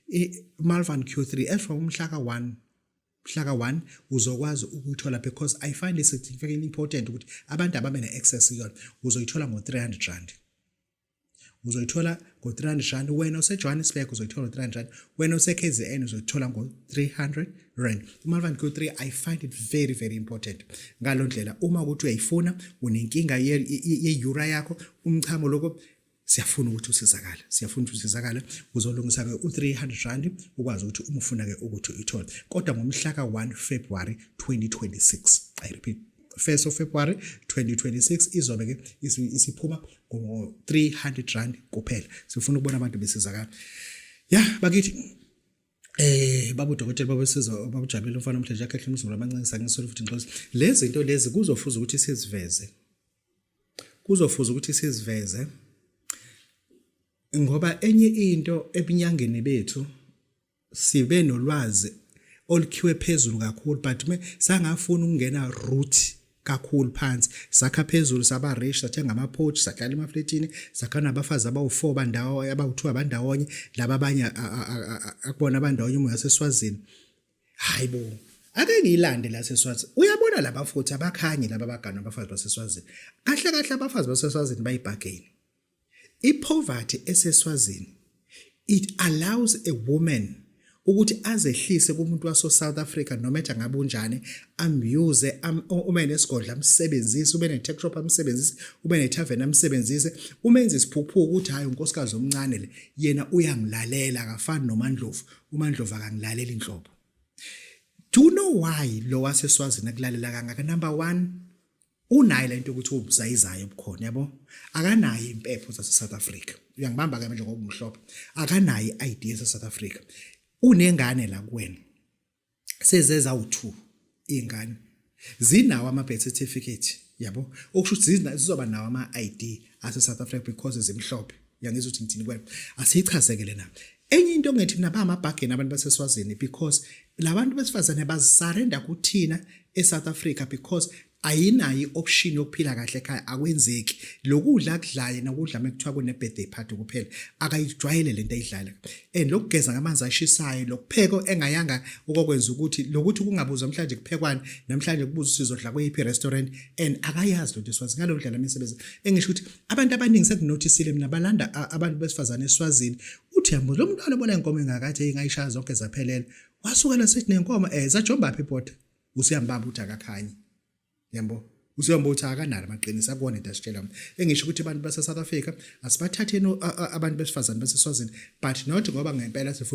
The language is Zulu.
i-Malvan Q3 as from umhlaka 1 mhlaka 1 uzokwazi ukuyithola because i find it significantly important ukuthi abantu ababe ne-access kuyona uzoyithola ngo-300 rand uzoyithola ngo-300 rand wena osejohannesburg uzoyithola ngo-300 rand wena osekzn uzoyithola ngo-300 rand umalvan q3 i find it very very important ngalo ndlela uma ukuthi uyayifuna unenkinga ye-ura yakho umchamo lokho siyafuna ukuthi usizakale siyafuna ukuthi usizakale uzolungisa ke u300 rand ukwazi ukuthi uma ufuna ke ukuthi uyithole kodwa ngomhla ka1 February 2026 i repeat 1st of February 2026 izobe ke isiphuma ngo 300 rand kuphela sifuna ukubona abantu besizakala ya bakithi Eh babu dokotela babesiza babujabile umfana omhlanje yakhe ehlumzulu abancengisa ngisolo futhi ngixolisa lezi zinto lezi kuzofuza ukuthi siziveze kuzofuza ukuthi siziveze ngoba enye into ebunyangeni bethu sibe nolwazi olukhiwe phezulu kakhulu but me sangafuna ukungena root kakhulu phansi sakha phezulu saba rich sathenga ama porch sahlala emafletini sakha nabafazi abawu4 bandawo abawu2 abandawonye laba abanye akubona abandawonye umoya seswazini hayi bo ake ngiyilande la seswazi uyabona laba futhi abakhanye laba bagana abafazi baseswazini kahle kahle abafazi baseswazini bayibhageni ipoverty eseswazini it allows a woman ukuthi azehlise kumuntu waso South Africa noma ethe ngabe unjani amuse uma enesigodla amsebenzise ube ne tech shop amsebenzise ube ne tavern amsebenzise uma enza isiphuphuko ukuthi hayi unkosikazi omncane le yena uyangilalela akafani nomandlovu uMandlova kangilaleli inhlobo do you know why lo waseswazini akulalela kangaka number 1 unayo lento ukuthi ubuzayizayo bukhona yabo akanayo impepho zase South Africa uyangibamba ke manje ngoba umhlophe akanayo iID yase South Africa unengane la kuwena sezeza u2 ingane zinawo ama birth certificate yabo okusho ukuthi zizoba nawo ama ID ase South Africa because zimhlophe yangizwa ukuthi ngithini kwena asiyichazekele na enye into ngethi mina ba ama bargain abantu baseswazini because labantu besifazane bazisarenda kuthina eSouth Africa because ayinayo i-option yokuphila kahle ekhaya akwenzeki lokudla akudlaye nokudla mekuthiwa kune-birthday party kuphela akayijwayele le nto ayidlala and lokugeza ngamanzi ashisayo lokupheko engayanga okokwenza ukuthi lokuthi kungabuzwa mhlawumbe kuphekwani namhlanje kubuza usizodla kweyiphi restaurant and akayazi lento eswazi ngalo dlala imisebenzi engisho ukuthi abantu abaningi sekunotisile mina balanda abantu besifazane eswazini uthi yambo lo muntu alobola inkomo engakathi ingayishaya zonke zaphelela wasukela sithi nenkomo eh zajombaphi ibhoda usiyambamba ukuthi akakhanyi yambo usiyomba ukuthi akanalo amaqiniso akona into asitshela mna engisho ukuthi abantu base-south africa asibathatheni abantu besifazane baseswazini but not ngoba ngempela sifuna